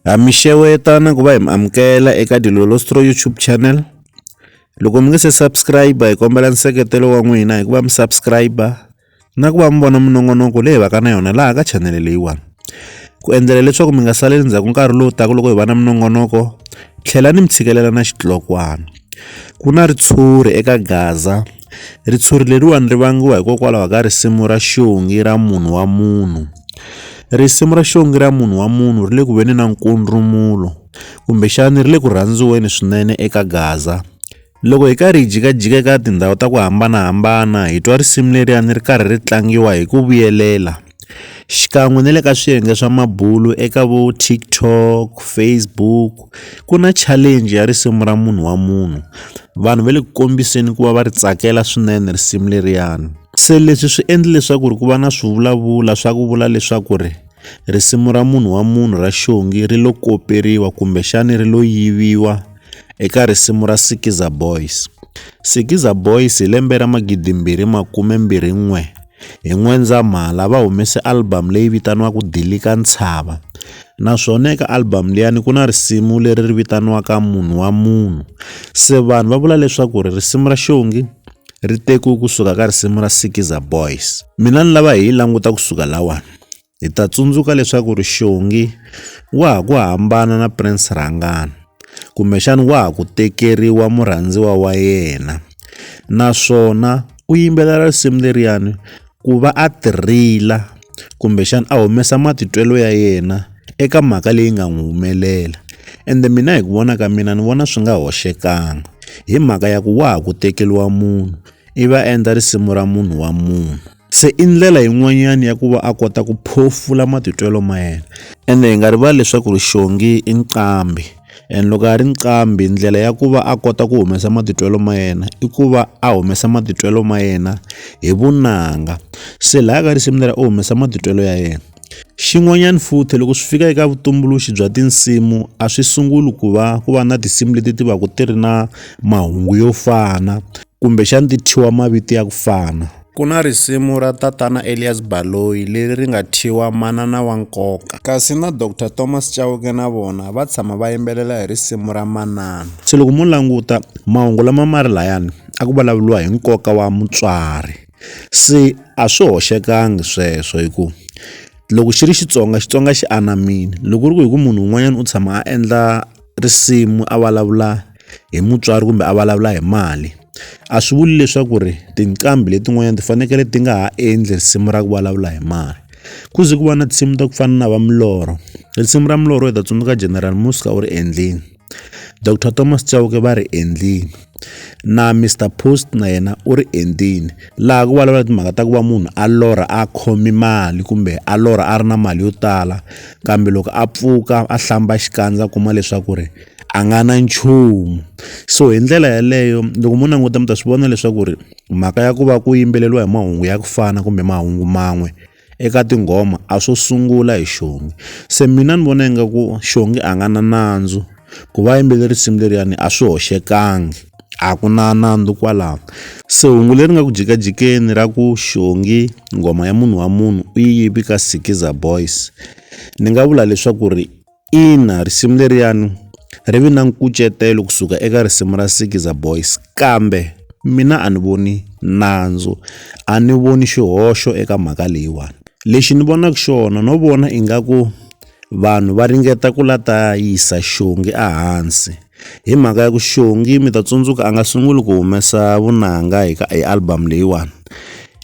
Ha mi xeweta na ku va hi mi amukela eka Dilolostro YouTube channel. Loko mi nge se subscribe hi kombela nseketelo wa n'wina hi ku va mi subscribe na ku va mi vona minongonoko leyi hi va ka na yona laha ka chanele leyiwani. Ku endlela leswaku mi nga saleli ndzhaku nkarhi lowu taka loko hi va na minongonoko, tlhelani mi tshikelela na xitlokwana. Ku na ritshuri eka Gaza. Ritshuri leriwani ri vangiwa hikokwalaho ka risimu ra xongi ra munhu wa munhu. Risimu ra xongi ra munhu wa munhu ri le ku veni na nkundrumulo kumbexani ri le ku rhandziweni swinene eka gaza. Loko hi karhi hi jikajika eka tindhawu ta ku hambanahambana hi twa risimu leriyani ri karhi ri tlangiwa hi ku vuyelela. xikan'we na le ka swiyenge swa mabulo eka vo TikTok, Facebook ku na challenge ya risimu ra munhu wa munhu vanhu va le ku kombiseni ku va va ri tsakela swinene risimu leriyani se leswi swi endle leswaku ri ku va na swivulavula swa ku vula leswaku ri risimu ra munhu wa munhu ra xongi ri lo koperiwa kumbexani ri lo yiviwa eka risimu ra Skiza Boys, Skiza Boys hi lembe ra magidimbirhi makume mbirhi n'we. Hi N'wendzamhala va humese album leyi vitaniwaka Dilika Ntshava naswona eka album liyani ku na risimu leri ri vitaniwaka Munhu wa Munhu. Se vanhu va vula leswaku ri risimu ra Xongi ri tekiwe kusuka ka risimu ra Sikiza Boys. Mina ni lava hi yi languta kusuka lahawani. Hi ta tsundzuka leswaku Rixongi wa ha ku hambana na Prince Rhangana, kumbexana wa ha ku tekeriwa murhandziwa wa yena naswona u yimbelela risimu leriyani ku va a ti rila kumbexana a humesa matitwelo ya yena eka mhaka leyi nga n'wi humelela ende mina hi ku vona ka mina ni vona swi nga hoxekangi hi mhaka ya ku wa ha ku tekeriwa munhu i va endla risimu ra munhu wa munhu. Se i ndlela yin'wanyana ya ku va a kota ku phofula matitwelo ma yena ende hi nga rivali leswaku ri xongi i nqambi and loko a ri nqambi ndlela ya ku va a kota ku humesa matitwelo ma yena i ku va a humesa matitwelo ma yena hi vunanga se laha ka risimu leri u humesa matitwelo ya yena. Xin'wanyana futhi loko swi fika eka vutumbuluxi bya tinsimu a swi sunguli ku va ku va na tinsimu leti ti va ku ti ri na mahungu yo fana kumbexana ti thyiwa mavito ya ku fana ku na risimu ra tatana Elias Baloyi leri ri nga thyiwa manana wa nkoka kasi na Doctor Thomas Chauke na vona va tshama va yimbelela hi risimu ra manana se loko mo languta mahungu lama ma ri layani a ku vulavuriwa hi nkoka wa mutswari. se a swi hoxekangi sweswo hi ku loko xi ri Xitsonga Xitsonga xi anamile loko ku ri ku hi ku munhu un'wanyana u tshama a endla risimu a vulavula hi mutswari kumbe a vulavula hi mali a swi vuli leswaku ri tinqambi letin'wanyana ti fanekele ti nga ha endli risimu ra ku vulavula hi mali ku ze ku va na tinsimu ta ku fana na va milorho risimu ra milorho hi ta tsundzuka General Muzka u ri endlile. Doctor Thomas Chauke va ri endlile na Mister Post na yena u ri endlile laha ku vulavula timhaka ta ku va munhu a lorha a khomi mali kumbe a lorha a ri na mali yo tala kambe loko a pfuka a hlamba xikandza a kuma leswaku ri a nga na nchumu so hi ndlela yaleyo loko mo languta mi ta swi vona leswaku ri mhaka ya ku va ku yimbeleriwa hi mahungu ya ku fana kumbe mahungu man'we. eka tinghoma a swo sungula hi xongi se mina ni vona ingaku xongi a nga na nandzu ku va yimbeleri risimu leriyani a swi hoxekangi a ku na nandzu kwalano se hungu leri nga ku jikajikeni ra ku xongi nghoma ya munhu wa munhu u yi yivi ka sikiza boys ni nga vula leswaku ri Ina risimu leriyani ri vi na nkucetelo kusuka eka risimu ra Sikiza Boys kambe mina a ni voni nandzu a ni voni xihoxo eka mhaka leyiwani lexi ni vonaka xona no vona ingaku vanhu va ringeta ku la ta yisa xongi ehansi. Hi mhaka ya ku Xongi mi ta tsundzuka a nga sunguli ku humesa vunanga hi ka hi album leyiwani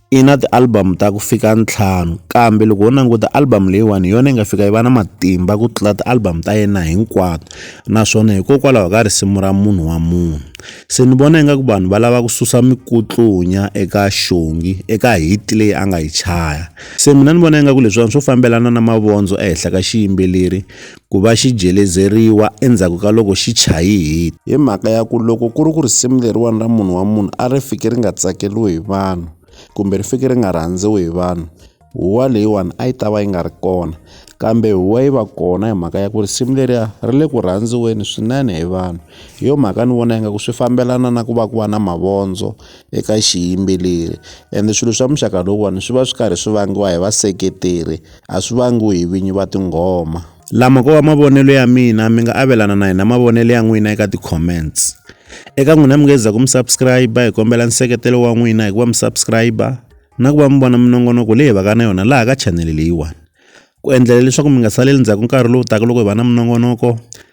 i na ti-album ta ku fika ntlhanu kambe loko ho languta album leyiwani hi yona yi nga fika yi va na matimba ku tlula ti-album ta yena hinkwato naswona hikokwalaho ka risimu ra munhu wa munhu se ni vona ingaku vanhu va lava ku susa mikutlunya eka Xongi eka hit leyi a nga yi chaya se mina ni vona ingaku leswiwani swo fambelana na mavondzo ehenhla ka xiyimbeleri ku va xi jelezeriwa endzhaku ka loko xi chayihile. Hi mhaka ya ku loko ku ri ku risimu leriwani ra munhu wa munhu a ri fiki ri nga tsakeriwi hi vanhu kumbe ri fiki ri nga rhandziwi hi vanhu huwa leyiwani a yi ta va yi nga ri kona kambe huwa yi va kona hi mhaka ya ku risimu leriya ri le ku rhandziweni swinene hi vanhu hi yo mhaka ni vona ingaku swi fambelana na ku va ku va na mavondzo eka xiyimbeleri ende swilo swa muxaka lowuwani swi va swi karhi swi vangiwa hi vaseketeri. a swi vangiwi hi vinyi va tinghoma. Lama ko va mavonelo ya mina mi nga avelana na hina mavonelo ya n'wina eka ti-comments. Eka n'wina mi nge za ku mi subscribe hi kombela nseketelo wa n'wina hi ku va mi subscribe na ku va mi vona minongonoko leyi hi vaka na yona laha ka chanele leyiwani. Ku endlela leswaku mi nga saleli ndzhaku nkarhi lowu taka loko hi va na minongonoko